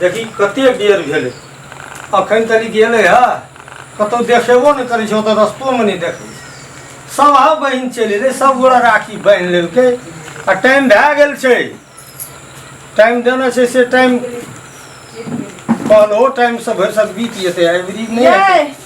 देखी कते बेर भेलै अखन तरी गेलै हे कतहु देखेबो नहि करै छै ओतऽ रस्तोमे नहि देखै छै सब हा बहिन चलि एलै सब गोरा राखी बान्हि लेलकै आ टाइम भए गेल छै टाइम देने छै से टाइम कहलो टाइमसँ भरि सब बीत जेतै एवरी नहि हेतै।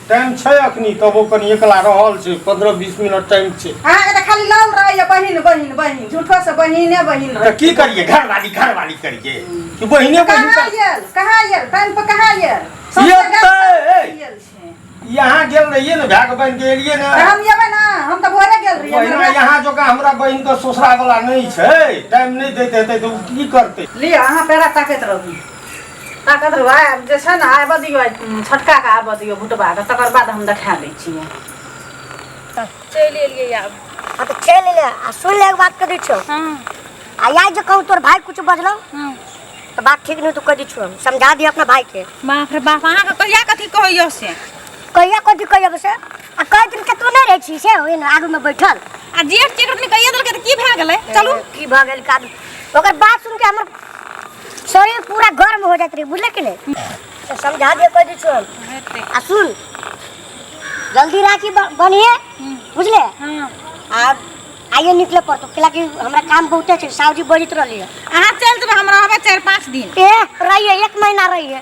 टाइम छै अखनी तबो कनी एकला रहल छै पंद्रह बीस मिनट टाइम छै अहाँके तऽ खाली लौल रहैए बहिन बहिन बहिन झूठोसँ बहिने बहिन तऽ रहै की करिए घरवाली घरवाली करिए कि बहिने बहिन कहाँ कर- आयल कहाँ आयल टाइम पर कहाँ आयल ये सबसँ तऽ- गाड़ी आयल छै। यहाँ गेल रहिए ने भाग बन के एलिए ने तऽ हम जेबै ने हम तऽ भोरे गेल रहियै बहिना हमरा- यहाँ जोका हमरा बहिन के ससुरा वाला नहीं छै टाइम नहीं देते हेतै तऽ उ की करते लिअ अहाँ पेड़ा ताकैत रहू ताकत रौ आइ जे छै ने आबऽ दियौ आइ छोटकाके आबऽ दियौ भुटबाके तकर बाद हम देखा दै छियै चलि एलियै आब हाँ तो चल ले आ सुन ले एक बात कर दी छो हँ आ यार जो कहूँ तोर भाई कुछ बजलो हँ तो बात ठीक नहीं तू कर दी छो हम समझा दिया अपना भाई के बाप रे बाप अहाँके कहिया कथी कहैयो से कहिया कथी कहिया बस आ कह दिन के तू नहीं रहे छी से ओही ना आगू में बैठल आ जेठ चेठ अपने कहिया देलकै तऽ की भए गेलै चलू की भऽ गेल काद ओकर बात सुन के हमर शरीर पूरा गर्म हो जात रही बुझले कि नहीं तो समझा दिए कह दी छोड़ हेतै आ सुन जल्दी राखी ब- बनिए बुझले हँ आ आइए निकले पड़तो किला कि हमरा काम बहुते छै सावजी बजित रहली है अहाँ चलि जेबै हम रहबै चारि पाँच दिन ए रहिए एक महीना रहिए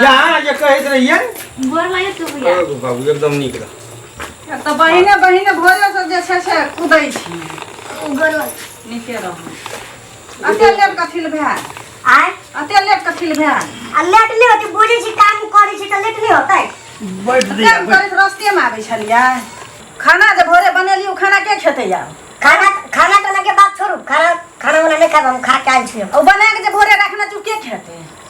जहाँ जे कहैत रहियै गोर लागै छै भैया ओ बाबू एकदम नीक रह एक तऽ बहिने बहिने भोजन सब जे छै से कुदै छी गोर लागै नीके रहू अते लेट कथी लए भेल आय अते लेट कथी लए भेल आ लेट नहि होतै बुझै छी काम करै छी तऽ लेट नहि होतै बैठ जा काम करैत रस्तेमे आबै छलियै खाना जे भोरे बनेली ओ खाना के खेतै आब खाना खाना खाना के बात छोड़ू खाना खाना वाला नहीं खाब हम खा के आयल छी हम। ओ बना के जे भोरे रखना चू के खेतै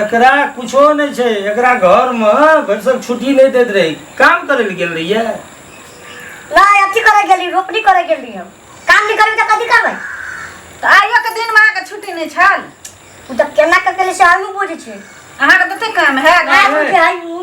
एकरा कुछो नहि छै एकरा घरमे भरिसक छुट्टी नहि दैत रहै काम करै लए गेल रहियै नहि अथी करे गेली रोपनी करे गेली हम काम नहीं करबी तऽ कथी करबै तऽ आइयो के दिन में अहाँके छुट्टी नहीं छल ओ तऽ केना कऽ केली से आलू बुझै छै अहाँके तते काम है घर आलू में। के आलू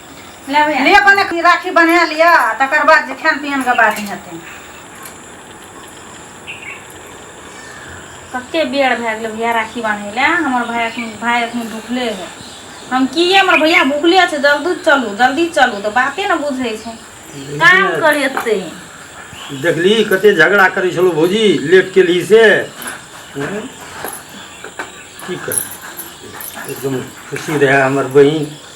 ले बने की राखी बना लिअ आ तकर बाद जे खान पियन के बात हेतै कते बेर भए गेलै भैया राखी बान्है लए हमर भाय एखन भाय एखन भुखले है हम की हमर भैया भुखले छै जल्दी चलू जल्दी चलू तऽ बाते ने बुझै छै काम करे एतै देखली कते झगड़ा करै छलौ भौजी लेट केली से हँ? की कर एकदम खुशी रहै हमर बहिन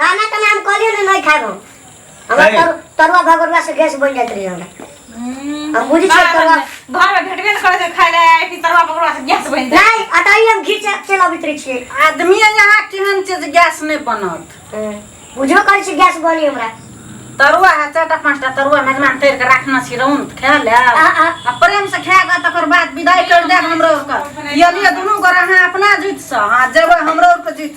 खाना का नाम कहलियो ना नहीं खाब हम हमरा काहे? तरु- तरुआ भगोरवा से गैस बन जात रही हमरा हम्म, हम बुझी बाहर तरुआ में- बाहर में भेटबे न करे से खाए ले आए कि तरुआ पकड़वा से गैस बनि जाए नहीं अटाई हम घी से चला बितरी छिए आदमी यहाँ केहन चीज गैस नहीं बनत बुझो करे छी गैस बनी हमरा तरुआ है चारटा पाँचटा तरुआ मेजमान तैर के राखना छी रौन त खा ले आ, आ। आ प्रेम से खा के तकर बाद विदाई कर देब हमरो ओकर यदि दुनू गोरा अहाँ अपना जुट से अहाँ जेबै हमरो ओकर जुट